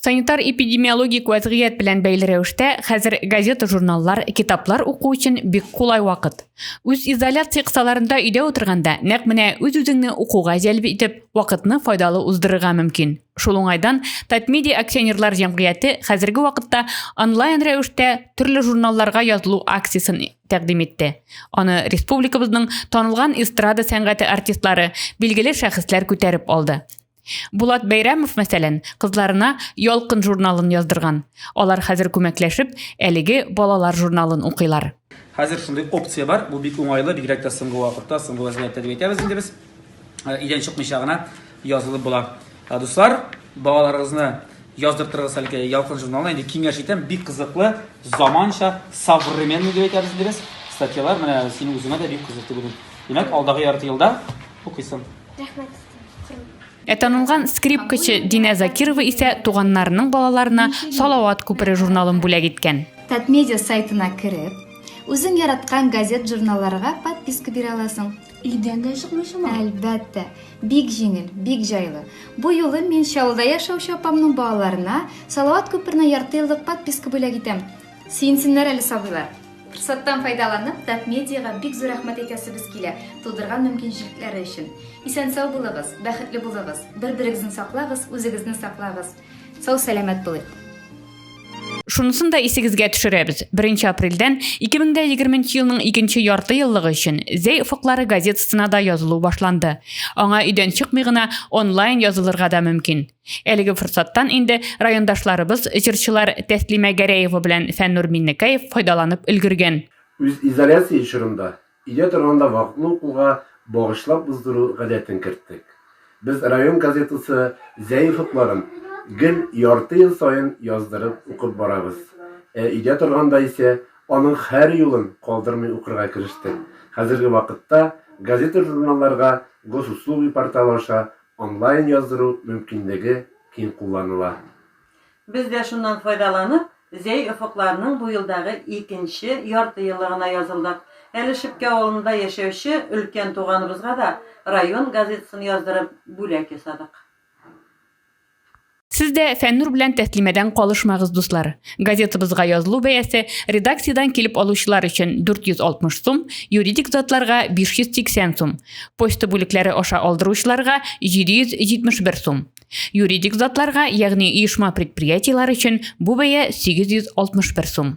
Санитар-эпидемиологик вәзгыять белән бәйле рәвештә хәзер газета-журналлар, китаплар уку өчен бик кулай вакыт. Үз изоляция кысаларында өйдә утырганда, нәкъ менә үз-үзеңне укуга җәлеп итеп, вакытны файдалы уздырырга мөмкин. Шул уңайдан Татмедиа акционерлар җәмгыяте хәзерге вакытта онлайн рәвештә төрле журналларга язылу акциясен тәкъдим итте. Аны республикабызның танылган эстрада сәнгате артистлары, билгеле шәхесләр күтәреп алды. Булат Бәйрәмов, мәсәлән, кызларына Ялкын журналын яздырган. Алар хәзер күмәкләшеп, әлеге балалар журналын укыйлар. Хәзер шундый опция бар, бу бик уңайлы, бигрәк тә соңгы вакытта, соңгы вәзгыятьтә дип әйтәбез инде без. Идән чыкмыйча гына язылып була. Дуслар, балаларыгызны яздыртырыгыз әлеге Ялкын журналына. Инде киңәш итәм, бик кызыклы, заманча, современный дип әйтәбез инде без. Статьялар менә синең үзеңә дә бик кызык дип уйлыйм. Димәк, алдагы ярты елда укыйсың. Рәхмәт. Ә танылган скрипкачы Динә Закирова исә туганнарының балаларына Салават күпере журналын бүләк иткән. Татмедиа сайтына кереп, үзең яраткан газет-журналларга подписка бирә аласың. Өйдән дә чыкмый шума. Әлбәттә, бик җиңел, бик җайлы. Бу юлы мин Чаллыда яшәүче апамның балаларына Салават күперенә ярты еллык подписка бүләк итәм. Сөенсеннәр әле сабыйлар. Форсаттан файдаланып, Татмедиага бик зур рәхмәт әйтәсебез килә, тудырган мөмкинчелекләре өчен. Исән-сау булыгыз, бәхетле булыгыз, бер-берегезне саклагыз, үзегезне саклагыз. Сау-сәламәт булыйк! Шунысын да исегезгә төшерәбез, 1 апрельдән 2020 нче елның икенче ярты еллыгы өчен Зәй офыклары газетасына да язылу башланды. Аңа өйдән чыкмый гына, онлайн язылырга да мөмкин. Әлеге форсаттан инде райондашларыбыз җырчылар Тәслимә Гәрәева белән Фәннур Миннекаев файдаланып өлгергән. Үз изоляция чорында, өйдә торганда вакытлы укуга багышлап уздыру гадәтен керттек. Без район газетасы зәиф утларын гел ярты ел саен яздырып укып барабыз. Ә өйдә торганда исә аның һәр юлын калдырмый укырга керештек. Хәзерге вакытта газета-журналларга Госуслуги порталы аша Онлайн яздыру мөмкинлеге киң кулланыла. Без дә шуннан файдаланып, Зәй офыкларының бу елдагы икенче яртыеллыгына язылдык. Әле Шепкә авылында яшәүче өлкән туганыбызга да район газетасын яздырып, бүләк ясадык. Сез дә Фәннур белән тәслимәдән калышмагыз, дуслар. Газетабызга язылу бәясе редакциядән килеп алучылар өчен 460 сум, юридик затларга 580 сум, почта бүлекләре аша алдыручыларга 771 сум. Юридик затларга, ягъни оешма предприятиелар өчен бу бәя 861 сум.